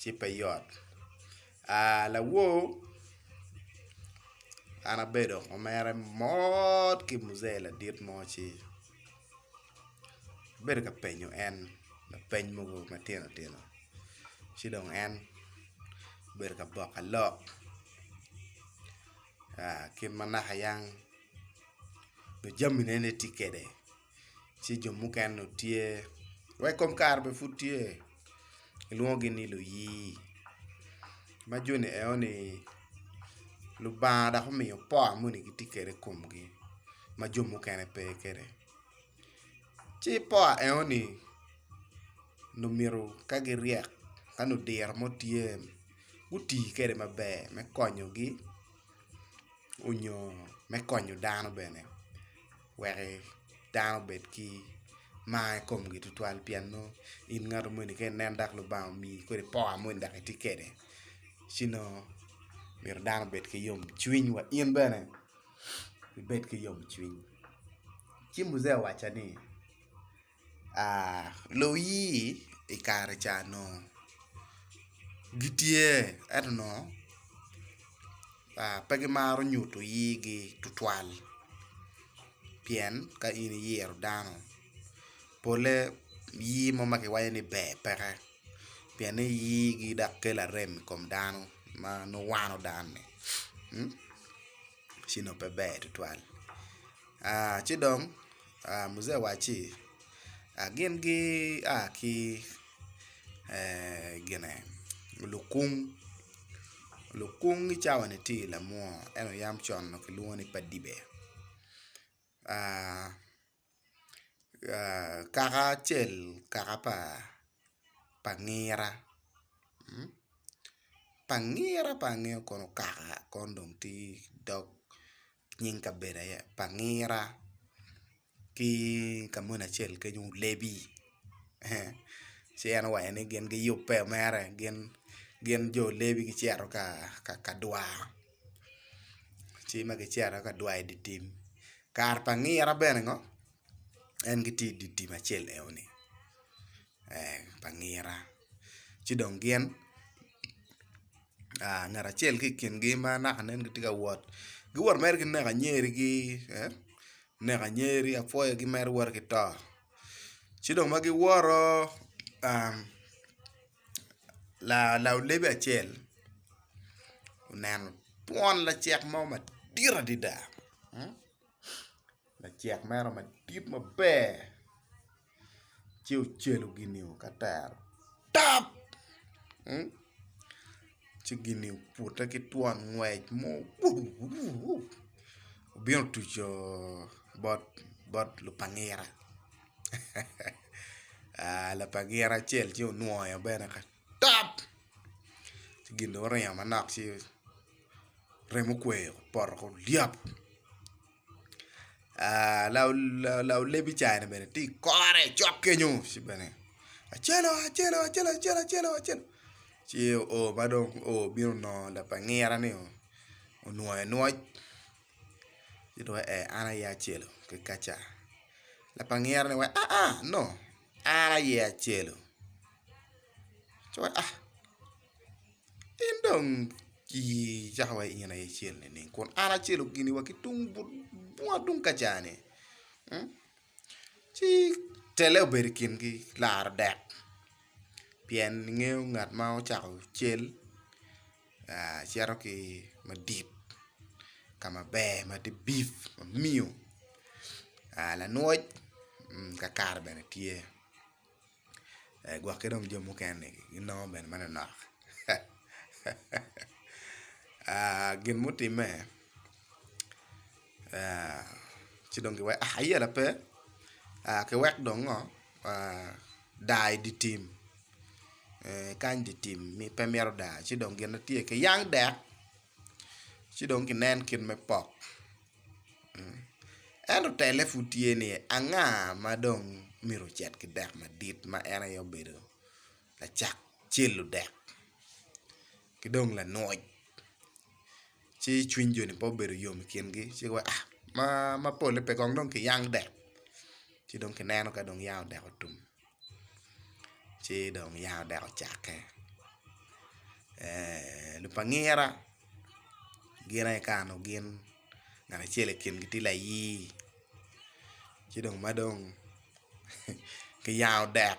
ci pe yot lawor an abedo ma mere mot ki muzee ladit mo ci abedo ka penyo en lapeny mogo matino tino ci dong en obedo ka boka lok kit ma naka yang nongo jamine ne tye kwede ci jo mukene dong tye wa i kom kare bene pud tye kilwongogi ni luyii ma joni enoni Lubanga dok omiyo powa moni gitye kwede i komgi ma jo mukene pe kwede ci powa enoni nongo myero ka giryek ka nongo diro mo tye guti kwede maber me konyogi nyo me konyo dano bene. wek dano obed ki mar i komgi tutwal pien nongo in ngato moni ka inen dok Lubanga omiyi kodi power moni dok itye kwede ci nongo myero dano obed ki yomcwiny wa in bene ibed ki yomcwiny ci Mujee owaco ni luwii i kare ca nongo gitye ento nongo pe gimaro nyuto iyigi tutwal pien ka in iyero dano pole iyi mo ma kiwaco ni ber peke pienne iyigi dok kelo arem i kom dano ma nongo wano dano-ni. ci onongo pe ber tutwal ci dong muzee owacci gin gia ki lukung, lukung i cawani tye i lamwo ento yam con onongo kilwongo ni padibe. kaka acel kaka pa ngira, pa ngira pa ngira kono okaka kono dong tye dog nying kabedo aye pa ngira ki ka moni acel kenyo olebi ci en owaco ni gin giyubbe mere gin jo olebi gicito ka dwaro. ci ma gicito aye ka dwayo i dye tim kare pa ngira bene ngo en gitye i dye tim acel eno ni pa ngira ci dong gin ngat acel ki i kingi ma naka nen gitye ka wot giwot mere ki neko anyeri gi neko anyeri apwoyo gimito woto ki to ci dong ma giwoto Laolebi acel oneno twon lacek mo madit adada lacek meno madit maber ci ocelo gini o ka tero tap ci gini obute ki twon ngwec mo obino otuco bot lupangira. Lapa gira acel ci onwoyo bene ka top ci gin dong oringo manok ci remo okweyo opoto ki olyap laolebi ca en bene tye i kore cok kenyo ci bene acel oo acel oo acel acel acel oo acel ci oo ma dong oo bino nongo lapa ngira ni onwoyo nwoc. Gidwoke ee an aye acelu kikaca lapa ngira ni wai aa no an aye acelu ci wai ah in dong icako iwaci in aye icel nining kun an acel gini wa ki tung but bunga tung kaca ni ci tele obedo i kingi laro dek pien ingeyo ngat ma ocako cel. cito ki madit ka maber ma tye bif ma miyo lanwoc kakare bene tye gwokke dong jo mukene ginongo bene manonok gin mutimme ci dong ki weko ayela pe ki wek dong ngo daa i di tim kany di tim pe mito daa ci dong gine tye ki yang dek ci dong ki nen kit me pok ento tele pud tye ni anga ma dong myero ocit ki dek madit ma en aye obedo lacak celu dek ki dong lanwoc ci cwiny jo-ni pe obedo yom i kingi ci giwaco ni ma ma pole pe kong dong kiyang dek ci dong kineno ka dong yanga odeko tum ci dong yanga odeko ocake lupangira gin aye kano gin ngat acel i kingi tye layii ci dong ma dong kiyanga odek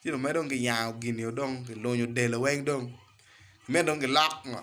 ci dong dong kiyango gin eo dong kilunyo del eo weng dong me dong gilok ngo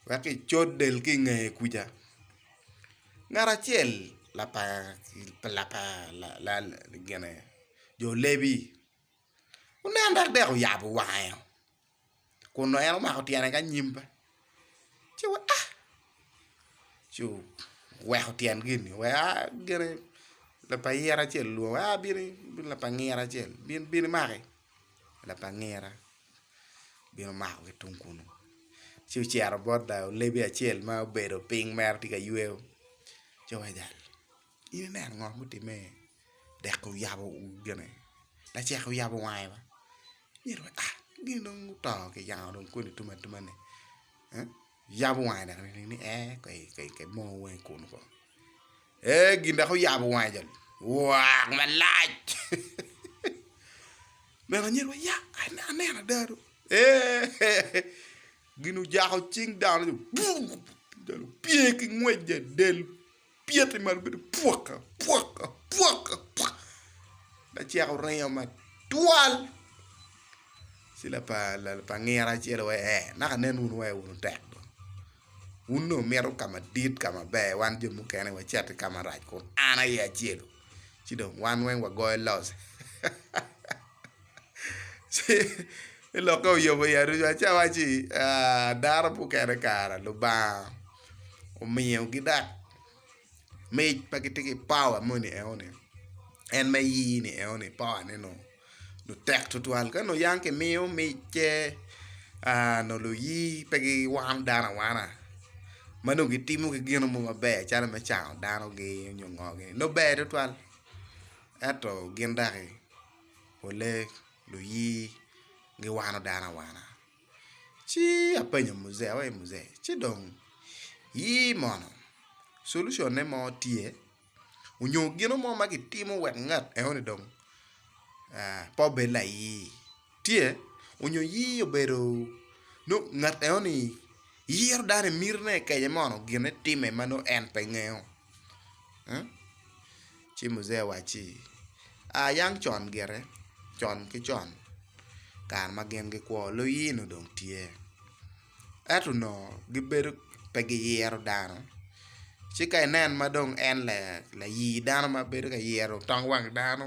wek kicut del ki inge kuca ngat acel jo lebi onen dok dek oyabo wange eo. kun nongo en omako tyene ki anyim pe ci weko ah ci oweko tyen gini oweko ah gine lapa ayira acel olwongo ah bino in lapa angira acel bin bino imaki lapa angira obino omako ki tung kunu ci ocito bot dang olebi acel ma obedo piny mere tye ka yweyo ci oweko jalo in ineno ngo mutimme-ni. dek oyabo gine lacek oyabo wange wa omyero wa ah gin dong oto ki yanga dong kodi tum atuma ni yabo wange dok ni ee ki moo wange kunu kong ee gin dok oyabo wange joni waak malac omyero anyira wa ya aneno ada do eehh gin ojako cing dano ni buu dano opye ki ngwec del pyete malo bedo pwaka pwaka pwaka pwaka lacek oringo matwal ci lapangira acel aye ee naka nen wunu wa wun otek dong wun dong wumito ka madit ka maber wan jo mukene wacito ki ka marac kun an aye acelu ci dong wan weng wagoyo loc. Ci elokke oyubo i aruca ci awacci, 'Aa, dano mukene kara Lubanga omiyogi dok mic ma gitye ki pawa moni enoni, en me iyini enoni pawane dong tek tutwal. Ka nongo yam kimiyo micce nongo luiyi pe giwano dano awana ma nongo gitimo ki gin mo maber calo me cango danogi nyo ngogi nongo ber tutwal ento gin doki. pole luyii giwano dano awana ci apenyo muzee awaci muzee ci dong yii mono solution ne mo tye onyo gino mo ma kitimo wek ngat enoni dong pe obed layii tye onyo yii obedo nongo ngat enoni yiro dano i mitine kenye mono gine time ma nongo en pe ngeyo. Ci Mujee owacci, A yang con gire, con ki con, kare ma gin gikwo, luyino dong tye. Ento onongo gibedo pe giyero dano. Ci ka inen ma dong en layi dano ma bedo ka yero tong wang dano.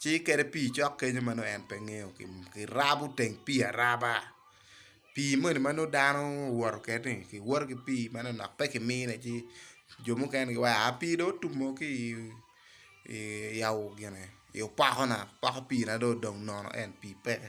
ci iketo pii cok kenyo ma nongo en pe ngeyo kirabo teng pii araba pii moni ma nongo dano owoto kwede ni kiwoto ki pii meno dok pe ki mine ci jo mukene giwaco aa pii dong otumo ki i opokona poko pii na dong odong nono en pii peke.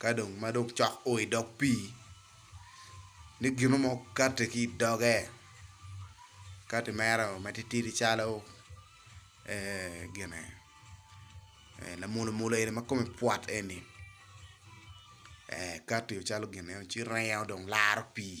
Ka dong ma dong cok o i dog pii, ni gino mo kati ki i doge, kati mere o matitidi calo gine lamulumulu eni ma kome pwot eni, kati calo gin eno ci ringo dong laro pii.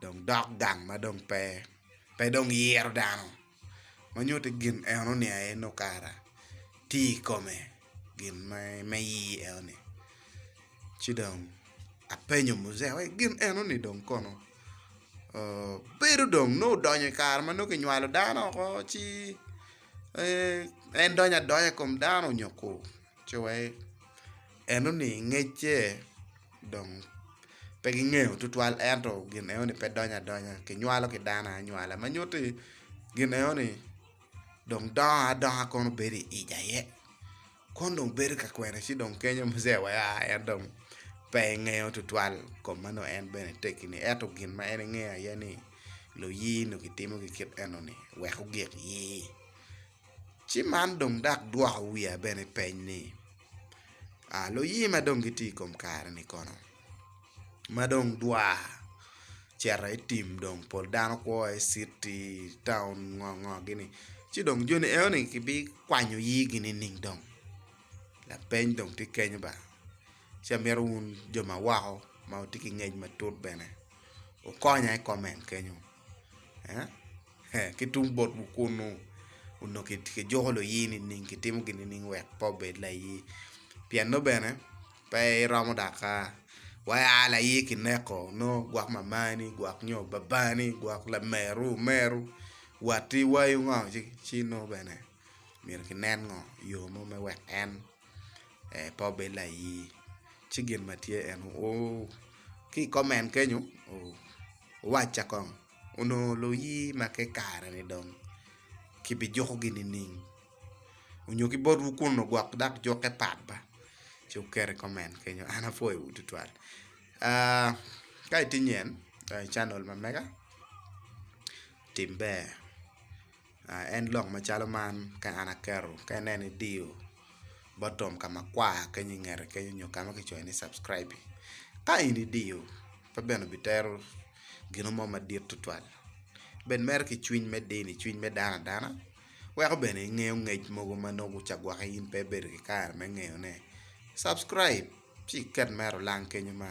dong dok gang ma dong pe pe dong yiro dano ma nyuto ni gin eno ni aye nongo kara tye i kome gin me yii eno ni ci dong apenyo muzee ni gin eno ni dong kono oo bedo dong nongo odonyo i kare ma nongo kinywalo dano oko ci en donyo adonya i kom dano nyo kur. Cuwek, enoni ngecce dong pe gingeyo tutwal ento gin enoni pe donyo adonya kinywalo ki dano anywala ma nyutti gin enoni dong dongo adonga kono bedo i ic aye kono dong bedo ka kwene ci dong kenyo mase wa en dong pe engeyo tutwal kom ma nongo en bene tekini ento gin ma en ingeyo aye ni luye nongo gitimo ki kit enoni wek ogik ye. Ci man dong dak dwoko wiya bene peny ni, Luye ma dong gitye i kom kare-ni kono, ma dong dwar cito i tim dong pol dano kwo i citi, taun ngo ngo gini ci dong joni enoni gibikwanyo igi nining dong? Lapeny dong tye kenyo ba, ci amito wun jo ma woko ma wutye ki ngec matut bene wukonya i koment kenyo. Ki tung botwu kunnu, onongo kijuko luyi nining? Kitimo gin nining wek pe obed layi? Pien nongo bene pe iromo daka. Wa ia layi kineko, nongo gwok mamani gwok nyo babani gwok lameru omeru watti wayo ngo ci nongo bene myero kinen ngo yo mo me wek en pe obed layi? Ci gin ma tye eno oo. Ki i comment kenyo wuwacca kong. Onongo luyi ma ke kare-ni dong kibijukogi nining? Onyo ki botwu kun ogwok dok jukke pat ba? Ci wuket i koment kenyo. An apwoyowu tutwal. Aa, ka itye nyen, donyo i canal ma mega, tim ber. en lok macalo man ka an aketo ka inen idiyo bottom ka makwar kenyo ingete kenyo nyo ka ma kicoyo ni subscribe ka in idiyo pe bene obitero gino mo madit tutwal bed mere ki cwiny me dini cwiny me dano adana weko bene ingeyo ngec mogo ma nongo guca gwoki in pe ibedo ki kare me ngeyone subscribe ci iket mere olang kenyo ma